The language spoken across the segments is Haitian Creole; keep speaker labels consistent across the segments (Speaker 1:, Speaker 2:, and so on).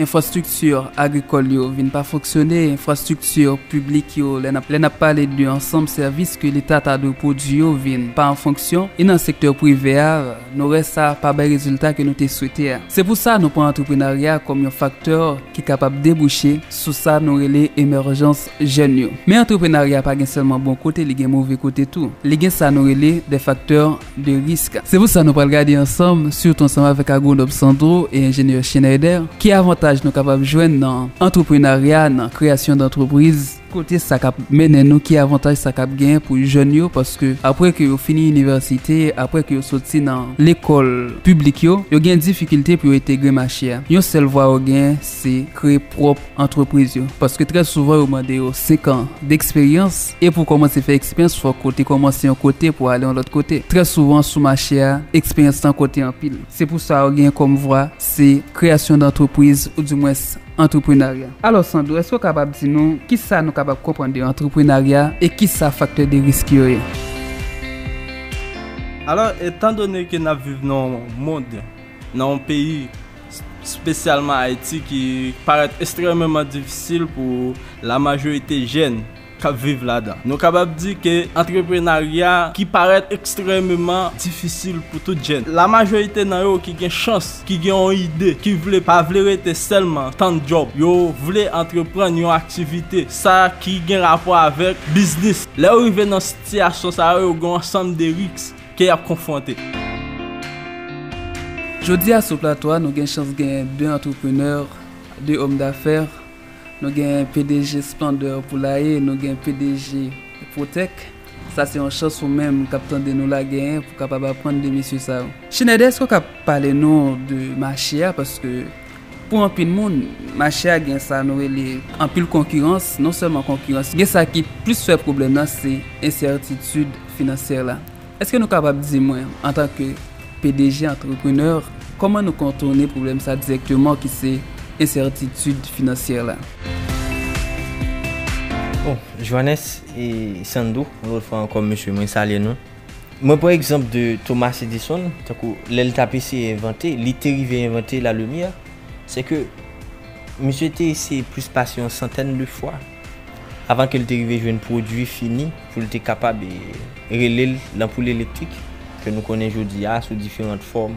Speaker 1: Enfrastrikti agrikòl yo vin pa fonksyone, enfrastrikti piblik yo, lè n ap pale de ansanm sèvis ke Leta ta dwe pwodui yo vin pa an fonksyon, e nan sektè prive a, nou wè sa pa bay rezilta ke nou te swete a. Se pou sa nou pran antreprenarya kòm yon faktè ki kapab debouche sou sa nou rele emèjans jèn yo. Men antreprenarya pa gen sèlman bon kote, li gen move kote tou. Li gen sa nou rele de faktè de risk. Se pou sa nou pral gade ansanm, sitou ansanm avèk Agwonòm Sandro e Enjenyè Schneider, ki avantaj nou kapab jwenn nan antreprenarya, nan kreyasyon dantrepriz, kote sa kap mennen nou, ki avantaj sa kap genyen pou jèn yo, paske apre ke yo fini inivèsite, apre ke yo soti nan lekòl piblik yo, yo gen difikilte pou yo entegre mache a. Yon sèl vwa yo genyen, se kreye pwòp. antrepriz yo paske trè souvan yo mande yo 5 an deksperyans e pou w kòmanse fè eksperyans fòk ou te kòmanse yon kote pou ale yon lòt kote trè souvan sou mache a eksperyans lan konte anpil se pou sa ou gen kòm vwa se kreyasyon dantrepriz ou di mwens antreprenarya. Alò Sandro èske w kapab di nou kisa nou kapab konprann de antreprenarya e kisa faktè de risk yo ye?
Speaker 2: Alò etan done ke n ap viv nan yon mond nan yon peyi. spesyalman Ayiti ki parèt estrèmeman difisil pou la majorite jèn k ap viv ladan. Nou kapab di ke antreprenarya ki parèt estrèmeman difisil pou tout jèn. La majorite nan yo ki gen chans, ki gen yon ide, ki vle, pa vle rete sèlman tann djòb. Yo vle antreprann yon aktivite, sa ki gen rapò avèk biznis. Lè yo rive nan sitiyasyon sa yo, yo gen yon ansanm de risk. Ke y ap konfwonte.
Speaker 1: Jodi a sou plato a nou gen chans genyen 2 antreprenè, 2 òm dafè. Nou genyen pdg Splendeur Poulailler, nou gen pdg Protec. Sa se yon chans ou menm k ap tande nou la genyen pou w kapab aprann de mesye sa yo. Schneider èske w ka pale nou de mache a paske Pou anpil moun, mache a gen sa nou rele anpil konkirans, non sèlman konkirans, gen sa ki plis fè pwoblèm nan se ensètitid finansyè la. Eske nou kapab di mwen, antanke pdg antreprenè, kòman nou kontourne pwoblèm sa dirèkteman ki se ensètitid finansyè la?
Speaker 3: Bon, Johannes e Sandro, yon lòt fwa ankò mesye mwen salye nou. Mwen pran egzanp de Thomas Edison, tankou lè li t ap eseye envante, li te rive envante lalumyè, se ke misye te eseye plis pase yon santèn de fwa avan ke li te rive jwenn pwodui fini pou li te kapab rele l lanpoul elektrik ke nou konnen jodi a sou diferant fòm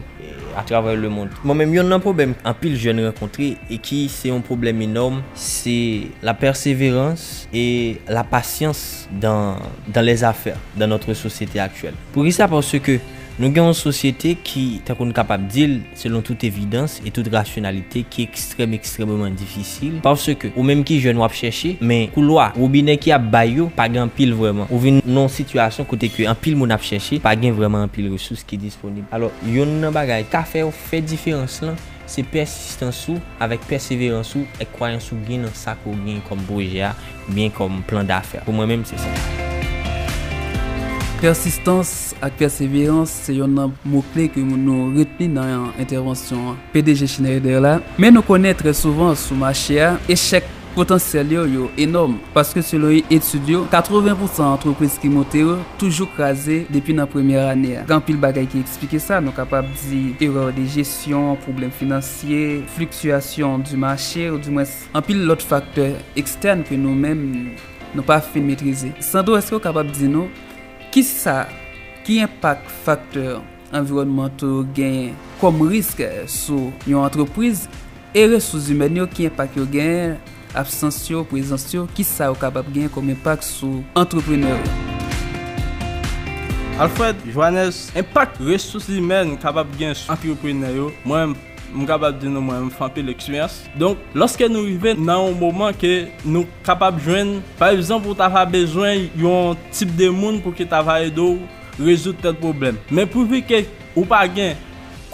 Speaker 3: atravè lemond. Bon, men yonn nan pwoblèm anpil jèn rankontre e ki se yon pwoblèm enòm, se lapèseverans e lapasyans dan dan lè zafè dan notre sosyete aktyèl poukisa paske nou gen yon sosyete ki tankou nou kapab dil selon tout evidans e tout rasyonalite ki ekstrèm ekstrèmeman difisil paske ou menm ki jèn wap chèche men koulwa wobinè ki ap bay yo pa gen anpil vrèman ou vin nan yon sitiyasyon kote ke anpil moun ap chèche pa gen vrèman anpil resous ki disponib alò yonn nan bagay ka fèw fè diferans lan Se pèsistans ou, avèk pèseverans ou, ak kwayans ou gen nan sa ke w gen kòm pwojè a, oubyen kòm plan dafè. Pou mwen menm, se sa.
Speaker 1: Pèsistans ak pèseverans se yonn nan mo kle ke nou retni nan entèvansyon PDG Schneider la. Men nou konnen trè souvan sou mache a, echèk. Potansyèl yo yo enòm, paske selon etid yo, 80 pousan antrepriz ki monte yo toujou kraze depi nan premyè ane a. Gen anpil bagay ki eksplike sa, nou kapab di erè de jesyon, pwoblèm finansye, fliktyasyon di mache, ou di mwens anpil lòt faktè ekstèn ke nou menm nou pa fin metrize. Sandro, èske ou kapab di nou kisa, ki enpak faktè. anviwònmantò yo genyen kòm risk sou yon antrepriz e resous zimèn yo, ki enpak yo genyen, absans yo, prezans yo, ki sa yo kapab genyen kòm enpak sou antreprenè yo. Alfred
Speaker 2: Joannes, Enpak resous zimèn kapab genyen sou antreprenè yo, mwen m kapab di nou mwen menm m fè anpil eksperyans. Donk, lòske nou rive nan yon moman ke nou kapab jwenn, pa egzanp ou ta va bezwen yon tip de moun pou ki ta va ede w rezoud tèl pwoblèm. Men pwifike ou pa gen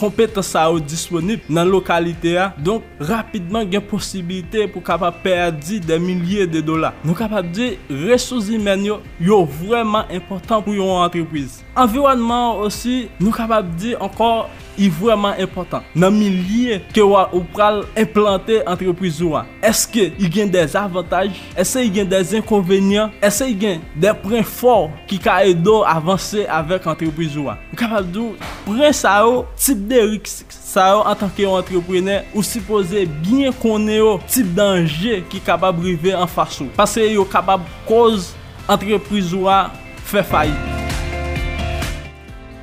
Speaker 2: konpetans sa yo disponib nan lokalite a, donk rapidman gen posibilite pou kapab pèdi dè milye de dola. Nou kapab di resous zimèn yo, yo vrèman enpòtan pou yon antrepriz. Anviwònman an osi, nou kapab di ankò, I vrèman enpòtan nan milye ke wa ou pral enplante antrepriz ou a. Eske i gen dè zavantaj? Ese i gen dè zenkonvenyan? Ese i gen dè pren fò ki ka ede w avanse avèk antrepriz ou a? M kapab di w, pren sa yo, tip de risk sa yo antanke yon antreprenè ou sipoze byen konnen yo, tip danje ki kapab rive anfas ou. Paske yo kapab koz antrepriz ou a fè fayit.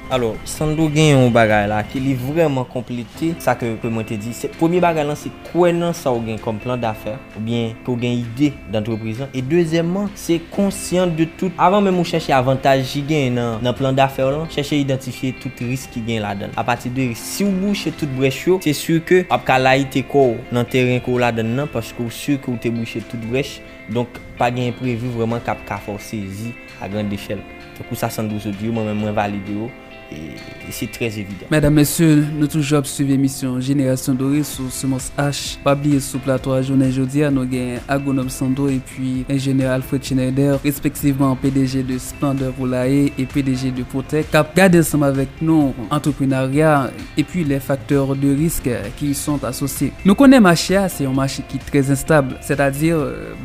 Speaker 3: Alò, Sandro gen yon bagay la ke li vrèman konplete sa ke ke mwen te di. Se, premye bagay lan se kwè nan sa ou gen kòm plan dafè oubyen ke ou gen ide dantrepriz lan. E dezyèmman, se konsyan de tout, avan menm ou chèche avantaj ki genyen nan nan plan dafè w lan, chèche idantifye tout risk ki genyen ladan l. Apati de risk, si ou bouche tout brèch yo, se si ke ou ap ka layite kò ou nan teren ke ou ladan l lan paske ou si ke ou te bouche tout brèch. Donk, pa gen enprevi vrèman kap ka fè ou sezi. A grand echèl. Tankou sa Sandro sot di yo, mwen menm mwen valide yo e se trè evidan. Medam mesye nou
Speaker 1: toujou ap swiv emisyon jenerasyon dore sou semans H pa bliye sou plato a jounen jodia nou gen agwonom Sandro epi enjenyè Alfred Schneider respektivman pdg de Splendeur Poulailler e pdg de Protec kap gade ansanm avèk nou antreprenarya epi les facteurs de risque ki y sont associés. Nou konnen mache a se yon mache ki trè enstab sètadi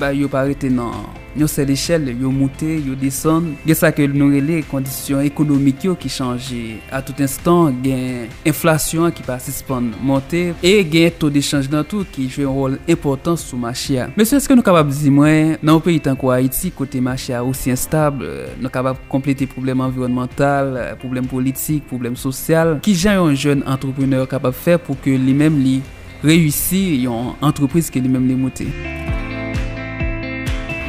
Speaker 1: bayo pa rete nan. Yon sèl echèl, yo moute, yo desann, gen sa ke nou rele kondisyon ekonomik yo ki chanje a tout enstan, gen enflasyon an ki pa sispann monte, e gen to de chanj nan tou ki jwe yon wòl enpòtan sou mache a. Mesye, èske nou kapab di mwen, nan yon peyi tankou Ayiti, kote mache a osi enstab, nou kapab konplete pwoblèm anviwònmantal, pwoblèm politik, pwoblèm sosyal, kijan yon jèn antreprenè kapab fè pou ke li menm li. reyisi yon antrepriz ke li menm li moute.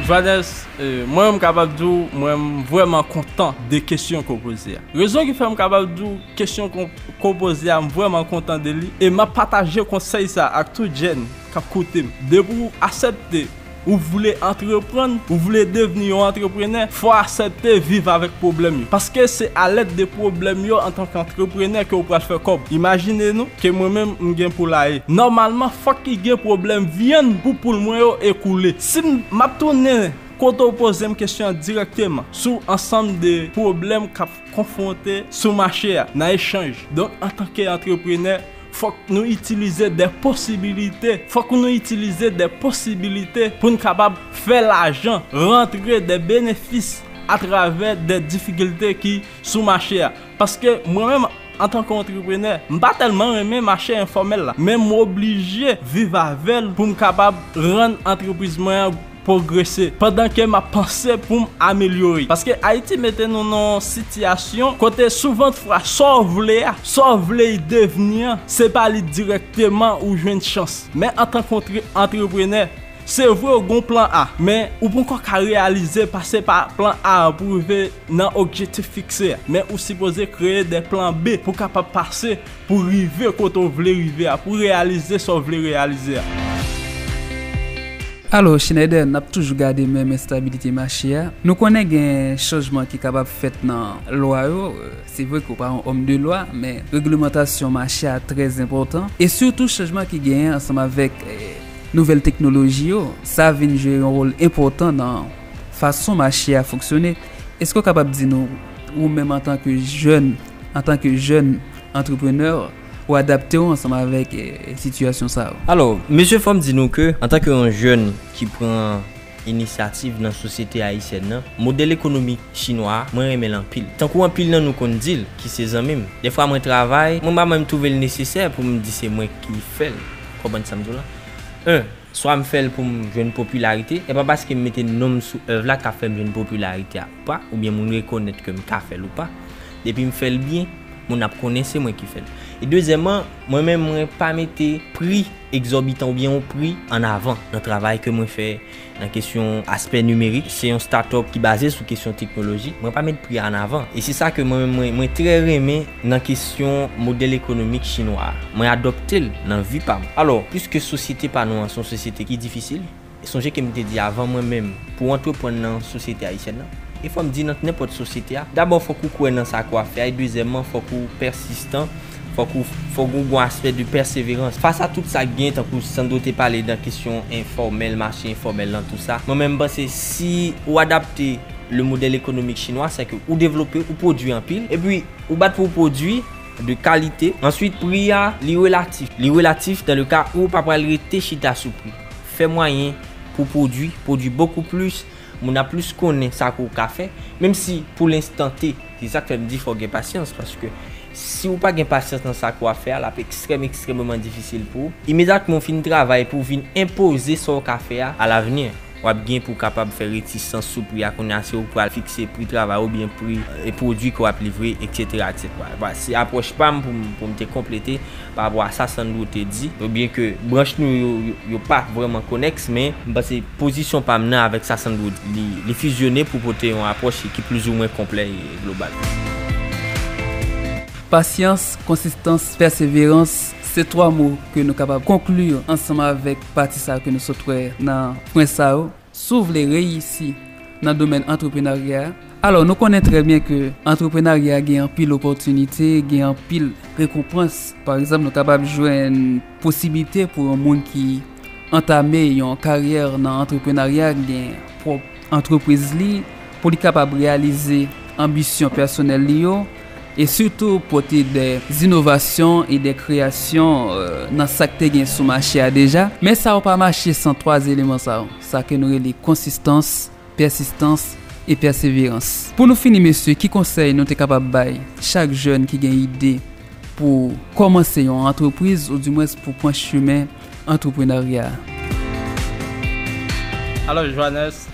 Speaker 2: Johannes, mwen menm m kapab di w mwen vrèman kontan de kesyon ke w poze a. Rezon ki fè m kapab di w kesyon ke w poze a m vrèman kontan de li e m ap pataje konsèy sa ak tout jèn k ap koute m. Depi w asèpte. Ou vle antreprann? Ou vle devni yon antreprenè? Fò asepte viv avèk pwoblèm yo. Paske se a lèd de pwoblèm yo antan k antreprenè ke ou pral fè kòb. Imajine nou, ke mwen menm m gen poulaye. Nòmalman fòk ki gen pwoblèm vyann pou poul mwen yo ekoule. Si m, m ap tounen kote ou poze m kesyon an dirèkteman, sou ansanm de pwoblèm k ap konfwonte sou mache a, nan echanj. Donk antan ke antreprenè. Fòk nou itilize de posibilite, fòk nou itilize de posibilite pou n kapab fè lajan rantre de benefis atravè de difikilte ki sou mache a. Paske mwen menm antan ke antreprenè, m pa tèlman renmen mache enfòmèl la, men m oblije viv avè l pou m kapab rann antrepriz mwen an pwogrese pandan ke map panse poum amelyore paske ayiti mete nou nan yon sitiyasyon kote souvent fwa saw vle a saw vle y devni an se pa li dirèkteman ou jwenn chans men antan ke yon antreprenè se vre ou gen yon plan A men ou ponkò ka reyalize pase pa plan A an pou rive nan okjetif fikse a men ou sipoze kreye de plan B pou kapab pase Pou rive kote w vle rive a, pou reyalize sa w vle reyalize a.
Speaker 1: Alo Schneider, n ap toujou gade menm enstabilite mache a. Nou konnen gen chanjman ki kapab fèt nan lwa yo. Se vre ke w pa yon òm de lwa, men reglemantasyon mache a trè enpòtan. E sitou chanjman ki genyen ansanm avèk nouvèl teknoloji yo, sa vin jwe yon wòl enpòtan nan fason mache a fonksyone. Eske ou kapab di nou, ou menm antanke jèn, antanke jèn antreprenè, ou adapte ou ansanm avèk sitiyasyon sa yo? Alò, mesye fò m
Speaker 3: di nou ke antanke yon jèn ki pran inisyativ nan sosyete ayisyèn nan, modèl ekonomik chinwa a, mwen renmen l anpil. Tankou anpil nan nou konn di l, ki se zanmi m, dèfwa mwen travay, mwen pa menm twouve l nesesè pou m di se mwen ki fè l. Ou konprann sa m di w la? 1. Swa m fè l pou m jwenn popilarite, e pa paske m mete non m sou èv la k ap fè m jwenn popilarite a ou pa, oubyen moun rekonèt ke m ka fè l ou pa. Depi m fè l byen, moun ap konnen se mwen ki fè l. E dezyèman, mwen menm mwen pa mete pri egzòbitan oubyen yon pri an avan nan travay ke mwen fè nan kesyon aspè nimerik. Se yon start-up ki baze sou kesyon teknoloji, mwen pa met pri a an avan. E se sa ke mwen menm mwen trè renmen nan kesyon modèl ekonomik chinwa a. Mwen adopte l nan vi pa m. Alò, piske sosyete pa nou an se yon sosyete ki difisil, sonje ke m te di avan mwen menm pou w antreprann nan sosyete ayisyèn nan, e fò m di nan nenpòt sosyete a, dabò fòk ou kwè nan sa ke w ap fè a e dezyèmman fòk ou pèsistan, fòk ou fòk gen yon aspè de pèseverans. Fas a tout sa ki gen, tankou Sandro te pale nan kesyon enfòmèl, mache enfòmèl lan, tou sa, mwen menm m panse si ou adapte. Le modèle économique chinois c'est que ou devlope, ou pwodwi anpil, epi ou bat pou ou pwodwi de kalite, answit pri a li relatif, li relatif dans le cas ou pa pral rete chita sou pri, fè mwayen pou pwodwi, pwodwi beaucoup plus, moun ap plus konnen sa ke ou ka fè, menm si pou l'instant T, se sak fè m di fò w gen pasyans, paske si ou pa gen pasyans nan sa ke w ap fè a, l ap ekstrèm ekstrèmeman difisil pou ou, imedyatman ou fin travay pou w vin enpoze sa w ka fè a à l'avenir. W ap gen pou w kapab fè retisans sou pri a kounye a si w pral fikse pri travay oubyen pri pwodui ke w ap livre, eksetera, eksetera. Vwala, se apwòch pa m pou m pou m te konplete pa rapò a sa Sandro te di. Byen ke branch nou yo yo pa vrèman konèks men. M panse pozisyon pa m nan avèk sa Sandro di li li fizyone pou pote yon apwòch ki plizoumwen konplè e global. Pasyans, konsistans,
Speaker 1: pèseverans, se twa mo ke nou kapab konkli ansanm avèk pati sa yo ke nou sot wè nan pwen sa yo, si w vle reyisi nan domèn antreprenarya, alò nou konnen trè byen ke antreprenarya gen anpil opòtinite, gen anpil rekonpans. Pa egzanp, nou kapab jwenn posiblite pou yon moun ki antame yon karyè nan antreprenarya gen pwòp antrepriz li, pou li kapab reyalize anbisyon pèsonèl li yo, e sitou pote de zinovasyon e de kreyasyon nan sa k te gen sou mache a deja. Men sa yo pa mache san 3 eleman sa yo, sa ke nou rele konsistans, pèsistans, e pèseverans. Pou nou fini mesye, ki konsèy nou te kapab bay chak jèn ki gen ide pou kòmanse yon antrepriz ou di mwens pou pran chemen antreprenarya a? Alò
Speaker 2: Johannes,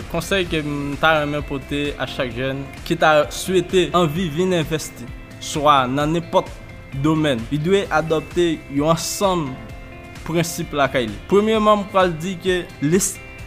Speaker 2: konsèy ke m ta renmen pote a chak jèn, ki ta swete anvi vin envèsti swa nan nenpòt domèn, li dwe adòpte yon ansanm prensip lakay li. Premyeman, m pral di ke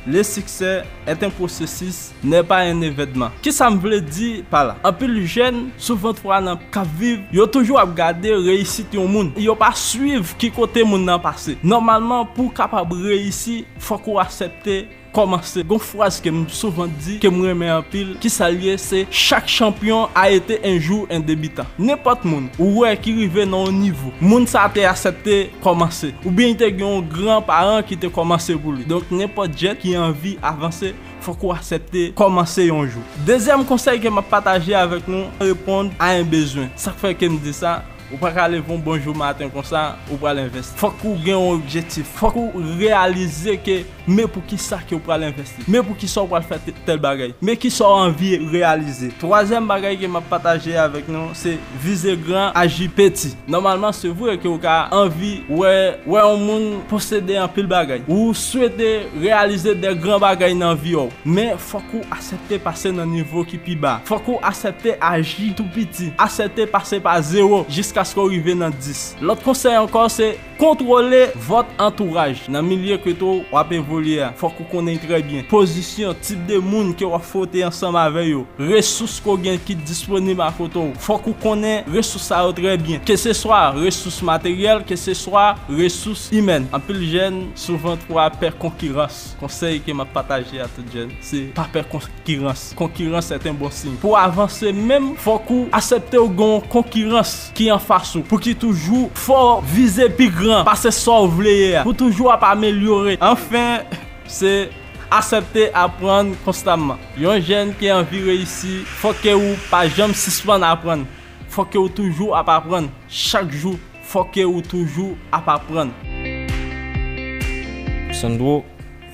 Speaker 2: le succès est un processus, n'est pas un événement. Kisa m vle di pa la? Anpil jèn, sou 23 nan, k ap viv, yo toujou ap gade reyisit yon moun. Yo pa swiv ki kote moun nan pase. Nòmalman, pou w kapab reyisi, fòk ou asèpte Kòmanse gon fraz ke m souvan di ke m renmen anpil kisa l ye se chak chanpyon a ete un jour un debutant nenpòt moun ou wè ki rive nan yon nivo moun sa te asèpte kòmanse oubyen li te gen yon gran paran ki te kòmanse pou li donk nenpòt jèn ki anvi avanse fòk ou asèpte kòmanse yon jou dezyèm konsèy ke m ap pataje avèk nou reponn a un bezwen sa k fè ke m di sa ou pa ka leve yon bon jou maten konsa ou pral envesti fòk ou gen yon objektif fòk ou reyalize ke. Men pou ki sa ke ou pral envèsti. Men pou ki sa ou pral fè tèl bagay. Men ki sa ou anvi reyalize. Twazyèm bagay ke map pataje avèk nou se vize gran aji peti. Nòmalman se vre ke ou ka anvi wè wè yon moun posede anpil bagay. Ou swete reyalize de gran bagay nan vi ou. Men fòk ou asèpte pase nan nivo ki pi ba. Fòk ou asèpte aji tou piti. Asèpte pase pa zewo jiskaske ou rive nan dis. Lòt konsèy ankò se. Kontwole vòt antouraj. Nan milye kote w ap evolye a, fòk ou konnen trè byen, pozisyon, tip de moun ke w ap fwote ansanm avè yo, resous ke w gen ki disponib akote w. Fòk ou konnen resous sa yo trè byen. Ke se swa resous materyèl, ke se swa resous imèn. Anpil jèn souvan twa pè konkirans. Konsèy ke m ap pataje a tout jèn, se pa pè konkirans. Konkirans se ten bon siy. Pou w avanse menm, fòk ou asepte w gen yon konkirans ki anfas ou, pou ki toujou fè w vize pi gran pase sa w vle ye a, pou toujou ap amelyore. Anfen, se asepte aprann konstamman. Yon jèn ki anvi reyisi, fòk ke ou pa janm sispann aprann. Fòk ke ou toujou ap aprann. Chak jou, fòk ke ou toujou ap aprann.
Speaker 3: Sandro,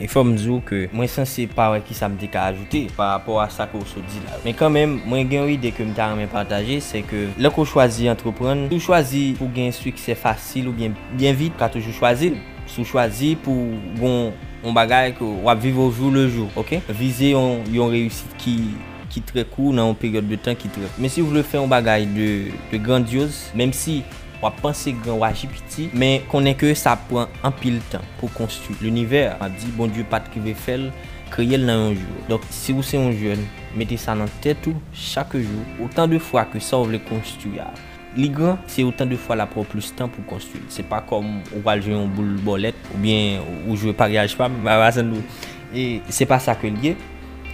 Speaker 3: E fò m di w ke mwen sanse pa wè kisa m te ka ajoute pa rapò a sa ke w sot di la yo. Men kanmenm, mwen gen yon ide ke m ta renmen pataje, se ke lè ke w chwazi antreprann, si w chwazi pou w gen siksè fasil oubyen byen vit, ou ka toujou chwazi l. Si w chwazi pou w gon yon bagay ke w ap viv ojou le jou, ok? Vize yon yon reyisit ki ki trè kou nan yon peryòd de tan ki trè kou. Men si w vle fè yon bagay de de grandyoz, menm si. W ap panse gran wa Jipiti, men konnen ke sa ap pran anpil tan pou konstwi linivè a. M ap di Bondye pa t rive fè l, kreye l nan yon jou. Donk, si ou se yon jèn, mete sa nan tèt ou, chak jou, otan de fwa ke sa ou vle konstwi a li gran, se otan de fwa l ap pran w plis tan pou konstwi l. Se pa kòm ou pral jwe yon boul bòlèt oubyen ou jwe paryaj pa m, Maracendou. E se pa sa ke l ye,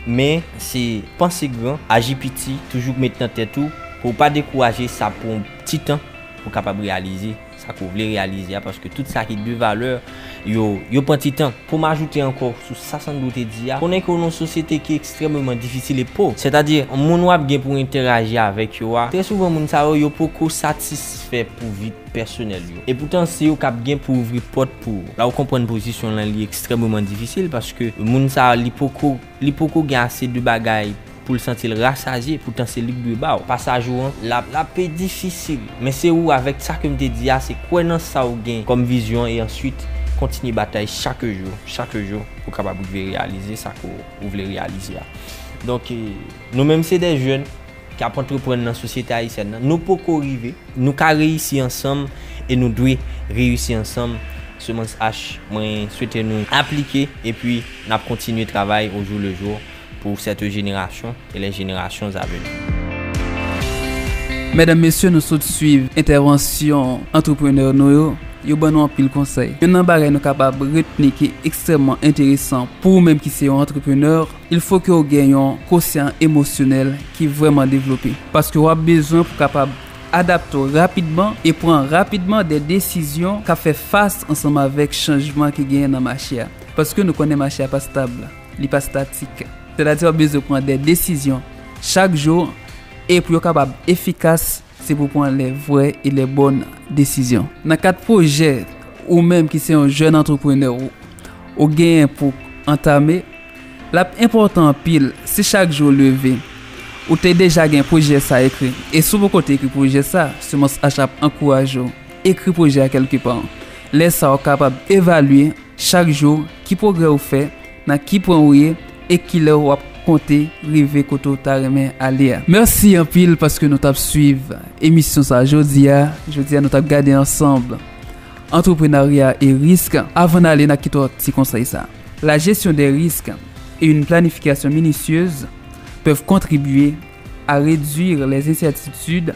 Speaker 3: men se panse gran, aji piti, toujou met nan tèt ou pou ou pa dekouraje sa ap pran w. ti tan pou kapab reyalize sa ke w vle reyalize a paske tout sa ki de valè yo, yo pran ti tan. Pou m ajoute ankò sou sa Sandro te di a, konnen ke w nan yon sosyete ki ekstrèmeman difisil e po, sètadi moun w ap gen pou w entèraji avèk yo a, trè souvan moun sa yo, yo poko satisfè pou vi pèsonèl yo. Epoutan se yo k ap gen pou ouvri pòt pou ou. La ou konprann pozisyon l lan li ekstrèmeman difisil paske moun sa li poko. Li poko gen ase de bagay pou l santi l rasaje, poutan se li k dwe ba w pasaj ou an. L ap. L ap pe difisil. Men se ou avèk sa ke m te di a, se kwè nan sa ou gen kòm vizyon e answit kontinye batay chak jou, chak jou pou w kapab rive reyalize sa ke w vle reyalize a. Donk. Nou menm se de jèn ki ap antreprann nan sosyete ayisyèn nan. Nou poko rive. Nou ka reyisi ansanm e nou dwe reyisi ansanm. Semans H, mwen swete nou aplike epi n ap kontinye travay au jour le jour pour cette génération et les générations à venir.
Speaker 1: Medam, mesye nou sot swiv entèvansyon antreprenè nou yo, yo ban nou anpil konsèy. Youn nan bagay nou kapab retni ki ekstrèmman enteresan pou ou menm ki se yon antreprenè, Il fo ke w gen yon kosyan emosyonèl ki vrèman devlope, paske w ap bezwen pou kapab adapte w rapidman e pran rapidman de desizyon k ap fè fas ansanm avèk chanjman ki genyen nan mache a. Paske nou konnen mache a pa stab, li pa statik. Sètadi w ap bezwen pran de desizyon chak jou e pou yo kapab efikas. Se pou pran lè vrè e lè bòn desizyon. Nan kad pwojè ou menm ki se yon jèn antreprenè ou genyen pou antame, l ap enpòtan anpil si chak jou ou leve, ou te deja gen pwojè sa ekri. E si w poko te ekri pwojè sa, Semans Acha ap ankouraje w ekri pwojè a kèlke pa. Lè sa w kapab evalye chak jou ki pwogrè ou fè. Nan ki pwen ou ye e kilè ou ap konte rive kote ou ta renmen ale a. Merci anpil paske nou tap swiv emisyon sa jodi a. Jodi a nou tap gade ansanb Antreprenarya e risk. Avan n ale na kite w ak ti konsèy sa. La gestion des risques et une planification minutieuse peuvent contribuer à réduire les incertitudes